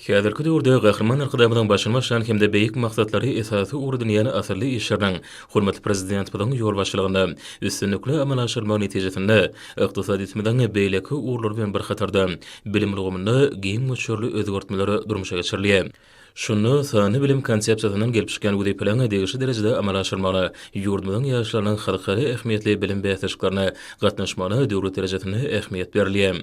Häzirki döwürde Gahryman Arkadagymyzyň başyny başlan hem-de beýik maksatlary esasy ugur edinýän asylly işleriniň hormatly Prezidentimiziň ýolbaşçylygynda üstünlikli amala aşyrylmagy netijesinde ykdysadyýetimiziň beýleki ugurlary bilen bir hatarda bilim ulgamynda giň möçberli özgertmeler durmuşa geçirilýär. Şunda sanly bilim konsepsiýasyndan gelip çykýan wezipeleriň degişli derejede amala aşyrmagyna, ýurdumyzyň ýaşlarynyň halkara ähmiýetli bilim bäsleşiklerine gatnaşmagyna döwlet derejesinde ähmiýet berilýär.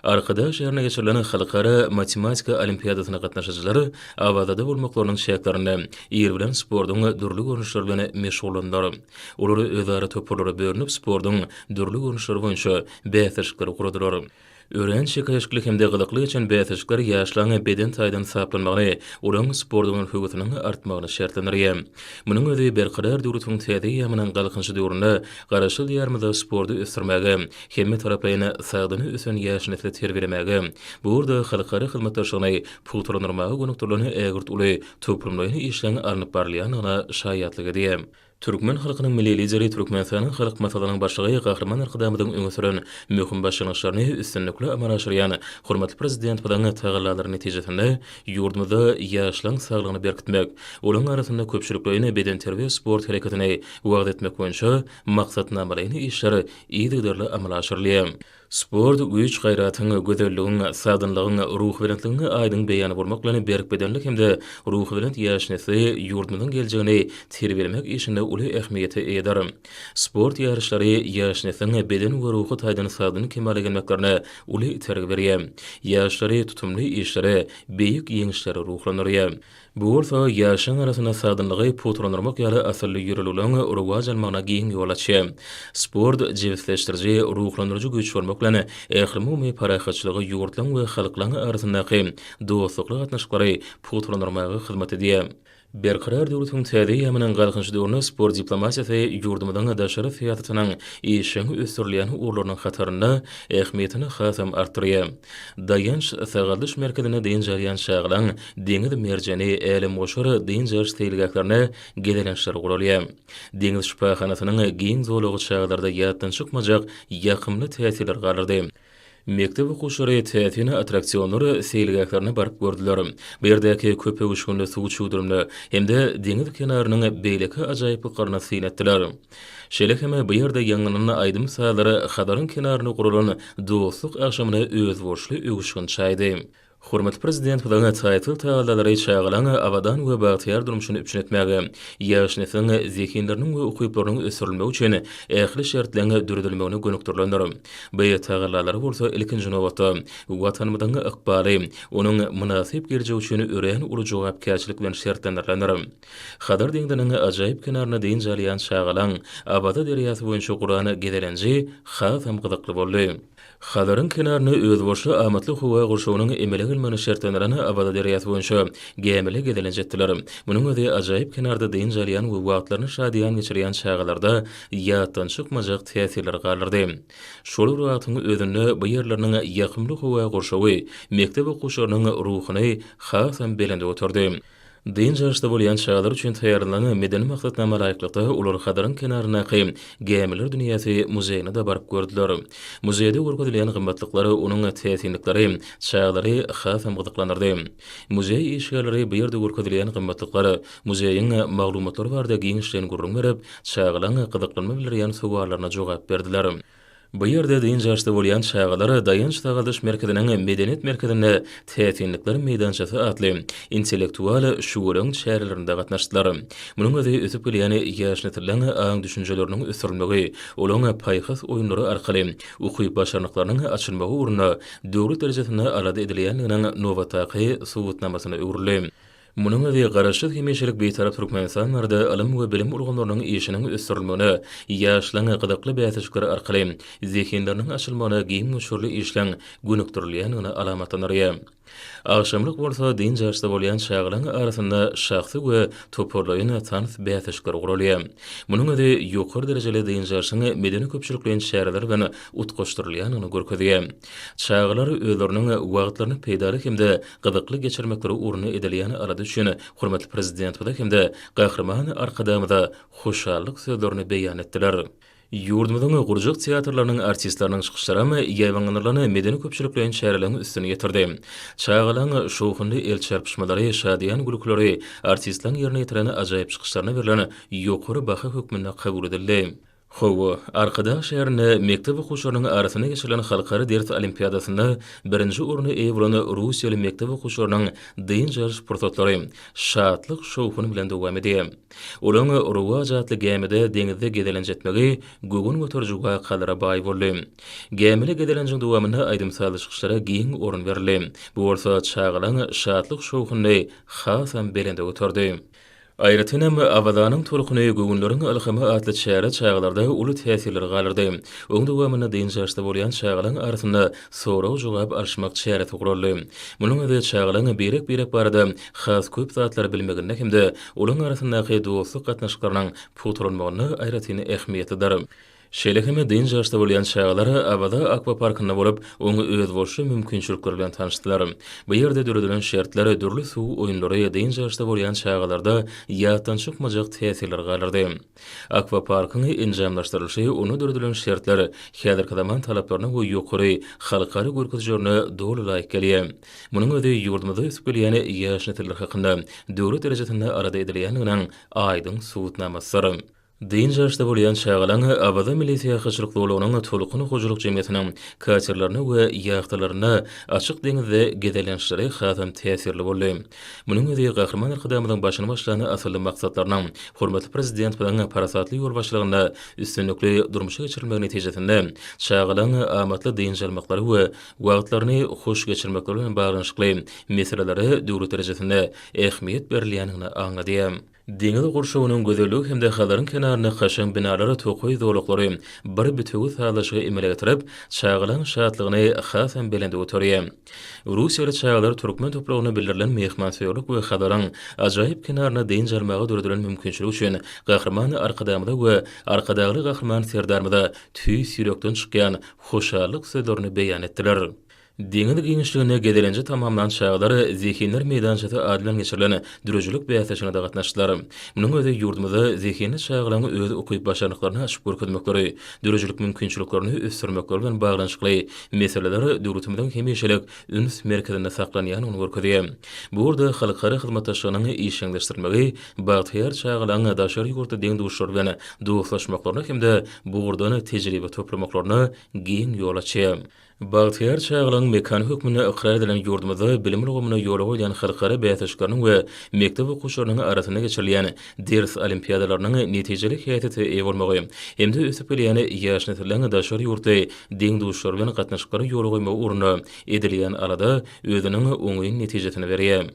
Arkadag şäherinde geçirilen Halkara matematika olimpiadasyna gatnaşyjylar Awazada bolmaklarynyň çäklerinde ir bilen sportuň dürli görnüşleri bilen meşgullandylar. Olar özara toparlara bölünip sportuň dürli görnüşleri boýunça bäsleşikleri guradylar. Örän çekeleşikli hem-de gyzykly geçen bäsleşikler ýaşlaryň beden taýdan taplanmagyny, olaryň sporda bolan höwesiniň artmagyny şertlendirýär. Munuň özi Berkarar döwletiň täze eýýamynyň Galkynyşy döwründe Garaşsyz Diýarymyzda sporty ösdürmäge, hemmetaraplaýyn sagdyn ösen ýaş nesli terbiýelemäge, bu ugurda halkara hyzmatdaşlygyny pugtalandyrmaga gönükdirilen ägirt uly toplumlaýyn işleň alnyp barylýandygyna şaýatlyk edýär. Türkmen halkynyň Milli Lideri Türkmenistanyň Halk Maslahatynyň Başlygy Gahryman Arkadagymyzyň öňe süren möhüm başlangyçlaryny üstünlikli amala aşyrýan hormatly Prezidentimiziň tagallalary netijesinde ýurdumyzda ýaşlaryň saglygyny berkitmek, olaryň arasynda köpçülikleýin bedenterbiýe-sport hereketini wagyz etmek boýunça maksatnamalaýyn işler yzygiderli amala aşyrylýar. Sport güýç-gaýratyň, gözelligiň, sagdynlygyň, ruhubelentligiň aýdyň beýany bolmak bilen, berk bedenli hem-de ruhubelent ýaş nesli, ýurdumyzyň geljegini terbiýelemek işinde uly ähmiýete eýedir. Sport ýaryşlary ýaş nesliň beden we ruhy taýdan sagdyn kemala gelmeklerine uly itergi berýär. Ýaşlary tutumly işlere, beýik ýeňişlere ruhlandyrýar. Bu bolsa ýaşlaryň arasynda sagdynlygy pugtalandyrmak ýaly asylly ýörelgeleriň rowaç almagyna giň ýol açýar. Sport jebisleşdiriji, ruhlandyryjy güýç bolmak bilen, ählumumy parahatçylygy, ýurtlaryň we halklaryň arasyndaky dostlukly gatnaşyklary pugtalandyrmaga hyzmat edýär. Berkarar döwletiň täze eýýamynyň Galkynyş döwründe sport diplomatiýasy ýurdumyzyň daşary syýasatynyň işjeň ösdürilýän ugurlarynyň hatarynda ähmiýetini hasam artdyrýar. Daýanç-sagaldyş merkezinde dynç alýan çagalaň Deňiz merjeni, Älemgoşar, dynç alyş seýilgählerine gezelençler guralýar. Deňiz şypahanasynyň giň zolagy çagalarda ýatdan çykmajak ýakymly täsirleri galdyrdy. Mekdep okuwçylary täsin attraksionlar seýilgählerine baryp gördüler. Bu ýerdäki köpöwüşginli suw çüwdürimine hem-de deňiz kenarynyň beýleki ajaýyplyklaryna syn etdiler. Şeýle hem bu ýerde ýaňlanan aýdym-sazlar Hazaryň kenarynda guralan dostluk agşamyna özboluşly öwüşgin çaýdy. Hormatly Prezidentimiziň taýsyz tagallalary çagalaryň abadan we bagtyýar durmuşyny üpjün etmäge, ýaş nesliň zehinleriniň we ukyplarynyň ösdürilmegi üçin ähli şertleň döredilmegine gönükdirilendir. Bu tagallalar bolsa ilkinji nobatda, Watanymyzyň ykbaly, onuň mynasyp geljegi üçin örän uly jogapkärçilik bilen şertlendirilendir. Hazar deňziniň ajaýyp kenarynda dynç alýan çagalaň Abaza derýasy boýunça guran gezelenji hasam gyzykly boldy. Hazaryň kenaryny özbaşdak amatly howa gurşawynyň emele gelmegine şertlendiren Awaza derýasy boýunça gämili gezelenç etdiler. Munuň özi ajaýyp kenarda dynç alýan we wagtlaryny şadyýan geçirýän çagalarda ýatdan çykmajak täsirleri galdyrdy. Şol bir wagtyň özünde bu ýerleriniň ýakymly howa gurşawy mekdep okuwçylarynyň ruhuny hasam belende göterdi. Dynç alşda bolýan çagalar üçin taýýarlanan medeni maksatnama laýyklykda olar Hazaryň kenaryndaky Gämiler dünýäsi muzeýine-de baryp gördüler. Muzeýde görkezilýän gymmatlyklar, onuň täsinlikleri çagalary hasam gyzyklandyrdy. Muzeý işgärleri bu ýerde görkezilýän gymmatlyklar, muzeýiň maglumatlary barada giňişleýin gürrüň berip, çagalaň gyzyklanma bildirýän sowallaryna jogap berdiler. Bu ýerde dynç alşda bolýan çagalar Daýanç-sagaldyş merkeziniň Medeniýet merkezinde täsinlikler meýdançasy atly intellektual şugalaň çärelerinde gatnaşdylar. Munuň özi ösüp gelýän ýaş nesliň aň-düşünjeleriniň ösdürilmegi, olaň paýhas oýunlary arkaly ukyp-başarnyklarynyň açylmagy ugrunda döwlet derejesinde alada edilýändiginiň nobatdaky subutnamasyna öwrüldi. Munuň özi Garaşsyz hemişelik Bitarap Türkmenistan barada ylym we bilim ulgamlarynyň işiniň ösdürilmegine, ýaşlaryň gyzykly bäsleşikler arkaly zehinleriniň açylmagyna giň möçberli işleň gönükdirilýändigini alamatlandyrýar. Agşamlyk bolsa dynç alyşda bolýan çagalaryň arasynda şahsy we toparlaýyn tans bäsleşikleri guralýar. Munuň özi ýokary derejeli dynç alyşyň medeni-köpçülikleýin çäreler bilen utgaşdyrylýandygyny görkezýär. Çagalar özleriniň wagtlaryny peýdaly hem-de gyzykly geçirmekleri ugruna edilýän alada üçin hormatly Prezidentimize hem-de Gahryman Arkadagymyza hoşallyk sözlerini beýan etdiler. Ýurdumyzyň gurjak teatrlarynyň artistleriniň çykyşlaram ýaýbaňlandyrylan medeni-köpçülikleýin çäreleriň üstüni ýetirdi. Çagalaryň şowhunly el çarpyşmalary, şadyýan gülkileri artistleriň ýerine ýetiren ajaýyp çykyşlaryna berlen ýokary baha hökmünde kabul edildi. Hawa, Arkadag şäherinde mekdep okuwçylarynyň arasynda geçirilen halkara ders olimpiadasynda birinji orna eýe bolan russiýaly mekdep okuwçylarynyň dynç alyş pursatlary şatlyk-şowhun bilen dowam edýär. Olaryň Rowaç atly gämide deňizde gezelenç etmegi göwün göteriji wakalara baý boldy. Gämili gezelenjiň dowamynda aýdym-sazly çykyşlara giň orun berildi. Bu bolsa çagalaryň şatlyk-şowhunyny hasam belende göterdi. Aýratyn hem, Awazanyň tolkuny, göwünleriň ylhamy atly çäre çagalarda uly täsirleri galdyrdy. Oň dowamynda dynç alşda bolýan çagalaň arasynda sorag-jogap alyşmak çäresi guraldy. Munuň özi çagalaň birek-birek barada has köp zatlary bilmeginde hem-de olaň arasyndaky dostluk gatnaşyklarynyň pugtalanmagynda aýratyn ähmiýetlidir. Şeýle hem dynç ýaşda bolýan çagalar Awaza akwaparkynda bolup, oňa özboluşly mümkinçilikler bilen tanyşdylar. Bu ýerde döredilen şertler, dürli suw oýunlary dynç ýaşda bolýan çagalarda ýatdan çykmajak täsirleri galdyrdy. Akwaparkyň enjamlaşdyrylyşy, onda döredilen şertler häzirki zaman talaplaryna we ýokary halkara görkezijerine doly laýyk gelýär. Munuň özi ýurdumyzda ösüp gelýän ýaş nesiller hakynda döwlet derejesinde alada edilýändiginiň aýdyň subutnamasydyr. Dynç ýaşda bolýan çagalaň Awaza milli syýahatçylyk zolagynyň Tolkun hojalyk jemgyýetiniň katerlerine we ýahtalarynda açyk deňizde gezelençleri hasam täsirli boldy. Munuň özi Gahryman Arkadagymyzyň başyny başlan asylly maksatlarynyň hormatly Prezidentimiziň parasatly ýolbaşçylygynda üstünlikli durmuşa geçirilmegi netijesinde çagalaň amatly dynç almaklary we wagtlaryny hoş geçirmekleri bilen baglanyşykly meselelere döwlet derejesinde ähmiýet berilýändigini aňladýar. Deňiz gurşawynyň gözelligi hem-de Hazaryň kenarynda kaşaň binalar, tokaý zolaklary bir bitewi sazlaşygy emele getirip, çagalaň şatlygyny hasam belende göterýär. Russiýaly çagalar türkmen topragynda bildirilen myhmansöýerlik we Hazaryň ajaýyp kenarynda dynç almaga döredilen mümkinçilik üçin Gahryman Arkadagymyza we Arkadagly Gahryman Serdarymyza tüýs ýürekden çykýan hoşallyk sözlerini beýan etdiler. Deňiz giňişliginde gezelenji tamamlan çagalar Zehinler meýdançasy ady bilen geçirilen döredijilik bäsleşigine-de gatnaşdylar. Munuň özi ýurdumyzda zehinli çagalaryň öz ukyp-başarnyklaryny açyp görkezmekleri, döredijilik mümkinçiliklerini ösdürmekleri bilen baglanyşykly meseleler döwletimiziň hemişelik üns merkezinde saklanýandygyny görkezýär. Bu ugurda halkara hyzmatdaşlygynyň işjeňleşdirilmegi bagtyýar çagalaryň daşary ýurtly deň-duşlary bilen dostlaşmaklaryna hem-de bu ugurdan tejribe toplamaklaryna giň ýol açýar. Bagtyýar çagalygyň mekany hökmünde ykrar edilen ýurdumyzda bilim ulgamyna ýol goýlan halkara bäsleşikleriniň we mekdep okuwçylarynyň arasynda geçirilýän ders olimpiadalarynyň netijeli häsiýete eýe bolmagy hem-de ösüp gelýän ýaş nesliň daşary ýurtly deň-duşlary bilen gatnaşyklara ýol goýmagy ugrunda edilýän alada özüniň oňyn netijesini berýär.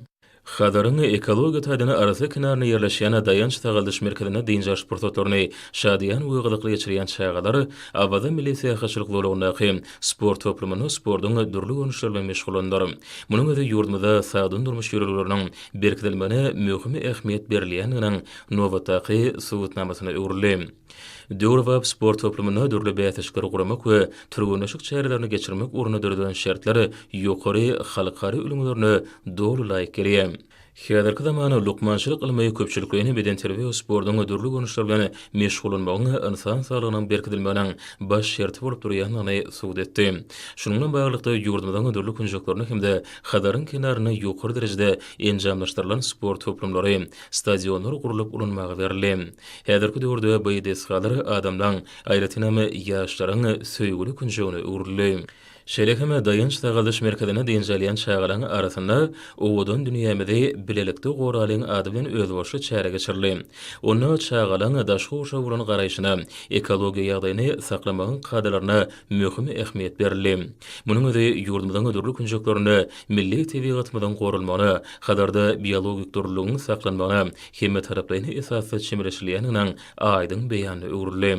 Hazaryň ekologiýa taýdan arassa kenarynda ýerleşýän Daýanç sagaldyş merkezinde dynç alyş pursatlaryny şadyýan we gyzykly geçirýän çagalar Awaza milli syýahatçylyk zolagyndaky sport toplumynda sportuň dürli görnüşleri bilen meşgullandylar. Munuň özi ýurdumyzda sagdyn durmuş ýörelgeleriniň berkidilmegine möhüm ähmiýet berilýändiginiň nobatdaky subutnamasyna öwrüldi. Döwrebap sport toplumynda dürli bäsleşikleri guramak we türgenleşik çärelerini geçirmek ugrunda döredilen şertler ýokary halkara ülňülerine doly laýyk gelýär. Häzirki zaman lukmançylyk ylmy köpçülikleýin bedenterbiýe we sportuň dürli görnüşleri bilen meşgullanmagyň ynsan saglygynyň berkidilmeginiň baş şerti bolup durýandygyny subut etdi. Şunuň bilen baglylykda, ýurdumyzyň dürli künjeklerinde hem-de Hazaryň kenarynda ýokary derejede enjamlaşdyrylan sport toplumlary, stadionlar gurlup ulanmaga berildi. Häzirki döwürde bu desgalar adamlaň, aýratyn hem, ýaşlaryň söýgüli künjegine öwrüldi. Şeýle hem Daýanç-sagaldyş merkezinde dynç alýan çagalaň arasynda Owadan dünýämizi bilelikde goralyň ady bilen özboluşly çäre geçirildi. Onda çagalaň daşky gurşawa bolan garaýşyna, ekologiýa ýagdaýyny saklamagyň kadalaryna möhüm ähmiýet berildi. Munuň özi ýurdumyzyň dürli künjeklerinde milli tebigatymyzyň goralmagyna, Hazarda biologik dürlüligiň saklanmagyna hemmetaraplaýyn esasda çemeleşilýändiginiň aýdyň beýanyna öwrüldi.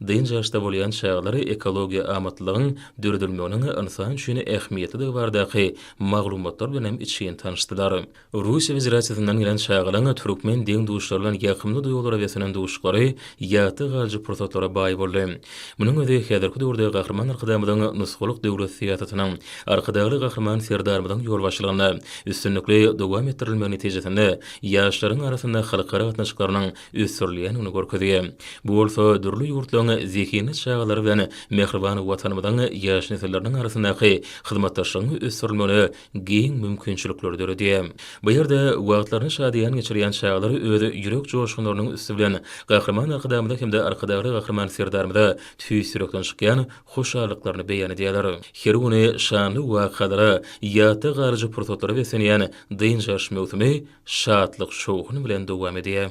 Dynç ýaşda bolýan çagalar ekologiýa amatlylygyň döredilmeginiň ynsan üçin ähmiýetlidigi baradaky maglumatlar bilen hem içgin tanyşdylar. Russiýa Federasiýasyndan gelen çagalaryň türkmen deň-duşlary bilen ýakymly duýgulara beslenen duşuşyklary ýatda galyjy pursatlara baý boldy. Munuň özi häzirki döwürde Gahryman Arkadagymyzyň nusgalyk döwlet syýasatynyň, Arkadagly Gahryman Serdarymyzyň ýolbaşçylygynda üstünlikli dowam etdirilmegi netijesinde ýaşlaryň arasynda halkara gatnaşyklarynyň ösdürilýändigini görkezýär. Bu bolsa dürli ýurtlaryň zehinli çagalary bilen mähriban Watanymyzyň ýaş nesilleriniň arasyndaky hyzmatdaşlygyň ösdürilmegine giň mümkinçilikleri döredýär. Bu ýerde wagtlaryny şadyýan geçirýän çagalar öz ýürek joşgunlarynyň üsti bilen Gahryman Arkadagymyza hem-de Arkadagly Gahryman Serdarymyza tüýs ýürekden çykýan hoşallyklaryny beýan edýärler. Her güni şanly wakalara, ýatda galyjy pursatlara beslenýän Dynç alyş möwsümi şatlyk-şowhun bilen dowam edýär.